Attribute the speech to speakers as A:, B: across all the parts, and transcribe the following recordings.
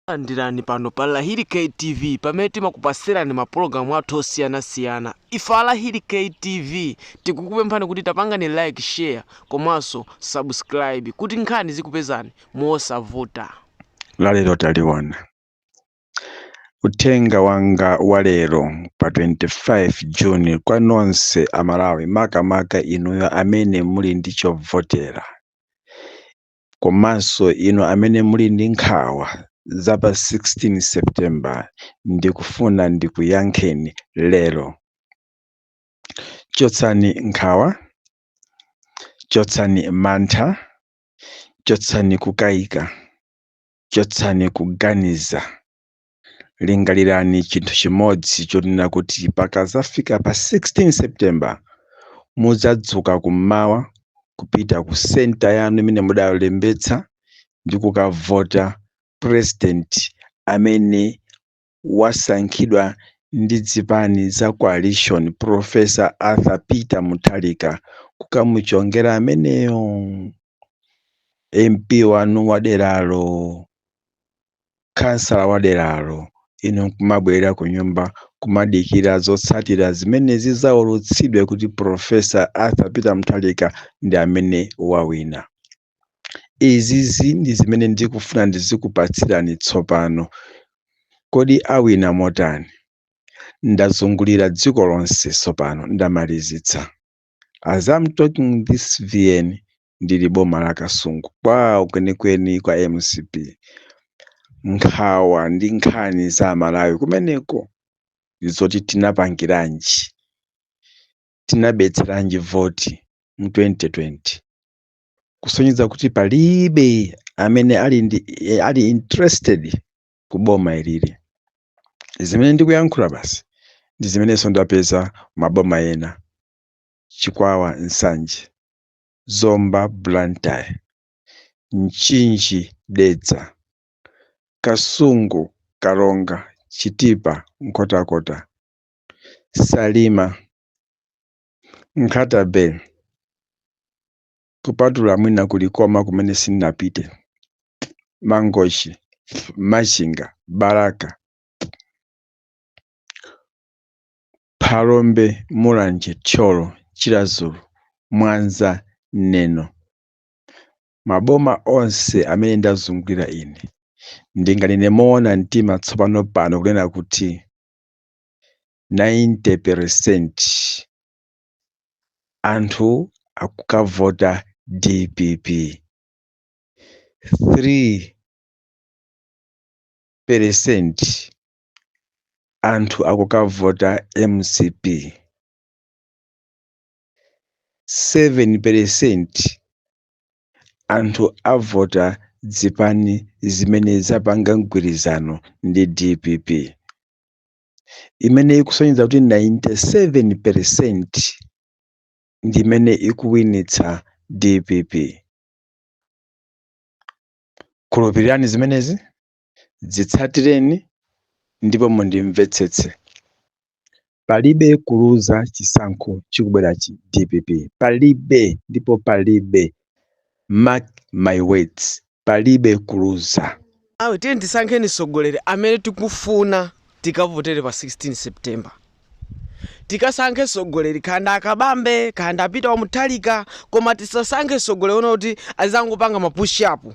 A: Landirani pano pa Lahiri K TV pamene timakupasirani mapulogalamu athu osiyanasiyana. Ife a Lahiri K TV tikukupemphani kuti tapangani like, share komanso subscribe kuti nkhani zikupezani mosavuta. lalero
B: taliona uthenga wanga wa lero pa 25 juni kwa nonse amalawi makamaka inuyo amene muli ndi chovotera komanso inu amene muli ndi nkhawa za pa 16 september ndikufuna ndikuyankheni lero chotsani nkhawa chotsani mantha chotsani kukayika chotsani kuganiza lingalirani chinthu chimodzi chonena kuti pakadzafika pa 16 september mudzadzuka kummawa kupita ku senta yanu imene mudalembetsa ndi kukavota president amene wasankhidwa ndi zipani za coalition professor arthur peter mutharika kukamuchongera ameneyo mp wanu waderalo khansala wa deralo, inu kumabwerera kunyumba kumadikira zotsatira zimene zidzaulutsidwe kuti Prof. Arthur Peter Mutharika ndi amene wawina. Izizi ndi zimene ndikufuna ndizikupatsirani tsopano. Kodi awina motani? Ndazungulira dziko lonse tsopano ndamalizitsa. As I'm talking this VN ndili boma la kasungu kwawo kwenikweni kwa mcp nkhawa ndi nkhani za amalawi kumeneko ndizoti tinapangiranji tinabetseranji voti mu 2020 kusonyeza kuti palibe amene ali interested ku boma ilili zimene ndikuyankhula basi ndi zimenenso ndapeza maboma ena chikwawa nsanje Zomba Blantyre Mchinji Dedza Kasungu Karonga Chitipa Nkhotakota Salima Nkhata-bay kupatula mwina ku Likoma kumene sinapite Mangochi Machinga Balaka Phalombe Mulanje Thyolo Chiradzulu Mwanza Neno Maboma onse amene ndazungulira ine, ndinganene moona mtima tsopano pano kunena kuti 90 peresenti anthu akukavota dpp, 3 peresenti anthu akukavota mcp 7 peresenti anthu avota zipani zimene zapanga mgwirizano ndi dpp imene ikusonyeza kuti 97 peresenti ndi imene ikuwinitsa dpp khulupirirani zimenezi Zitsatireni ndipo mundimvetsetse. Palibe kuluza chisankho chikubwerachi dpp. Palibe ndipo palibe. Mark my words. Palibe kuluza. Amalawi tiyeni
A: tisankhe mtsogoleri amene tikufuna tikavotere pa 16 September. Tikasankhe mtsogoleri kaya ndi a Kabambe kaya ndi a Peter wa Mutharika koma tisasankhe mtsogoleri wonena kuti azangopanga ma push up.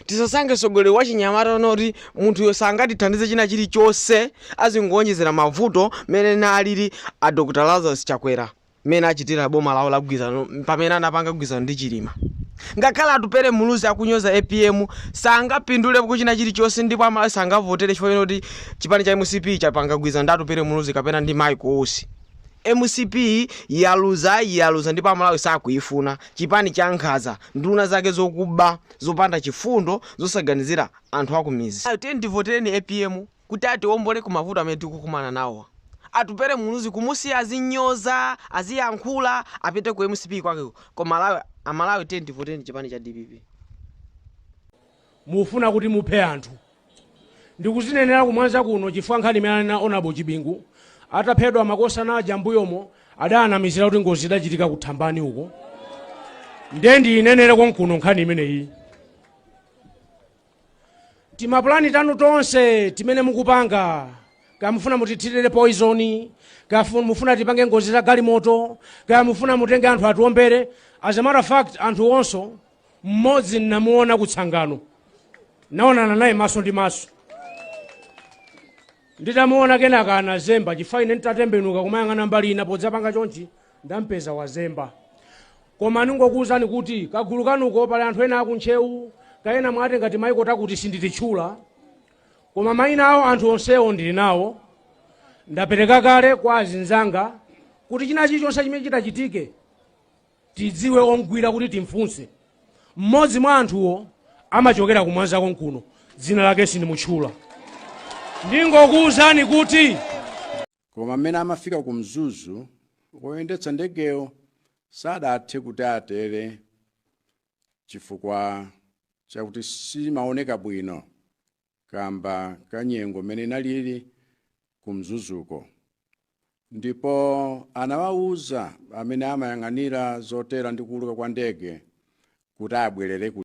A: Tisasankhe mtsogoleri wachinyamata wonena kuti munthuyo sangatithandize china chilichonse azingowonjezera mavuto mene nalili a Dr Lazarus Chakwera mene achitira boma lawo la gwizano pamene anapanga gwizano ndi Chilima. Ngakhale Atupele Muluzi akunyoza apm sangapindulepo china chilichonse ndipo a Malawi sangavotere chifukwa chonena kuti chipani cha mcp chapanga gwizano ndi Atupele Muluzi kapena ndi Michael Usi. Mcp yaluza yaluza ndipo amalawi sakuifuna chipani cha nkhaza nduna zake zokuba zopanda chifundo zosaganizira anthu akumizi. Tiyeni tivotereni apm kuti atiombole kumavuto amene tikukumana nawo. Atupele Muluzi kumusiya azinyoza aziyankhula apite ku mcp kwake koma amalawi tiyeni tivotereni chipani cha dpp.
C: mufuna kuti muphe anthu. Ndikuzinenera kumwanza kuno chifukwa nkhani imene ananena Hon. Chibingu ataphedwa makosana aja m'mbuyomo adaanamizira kuti ngozi idachitika ku Thambani uko. Ndiye ndiyinenere konkuno nkhani imeneyi. Timapulani tanu tonse timene mukupanga kaya mufuna mutithirire poizoni kaya fu- mufuna tipange ngozi za galimoto kaya mufuna mutenge anthu atiwombere as a matter of fact anthu onso mmodzi nnamuona kutsangano naonana naye maso ndi maso nditamuona kenaka anazemba chifukwa ine nditatembenuka kumayang'ana mbali ina podzapanga chonchi ndampeza wazemba koma ndingokuwuzani kuti kagulu kanuko pali anthu ena akuntchewu kaya ena mwati ngati maiko takuti sindititchula koma mayina awo anthu onsewo ndili nawo ndapereka kale kwa azinzanga kuti china chilichonse chimene chitachitike tidziwe omgwira kuti timfunse. Mmodzi mwa anthuwo amachokera ku Mwanza konkuno, dzina lake sindimutchula. Ndingokuwuzani kuti. Koma
D: mmene amafika ku Mzuzu, woyendetsa ndegeyo sadathe kuti atere chifukwa chakuti simaoneka bwino kamba ka nyengo mmene inalili ku mzuzuko ndipo anawawuza amene amayang'anira zotera ndi kuuluka kwa ndege kuti abwerere ku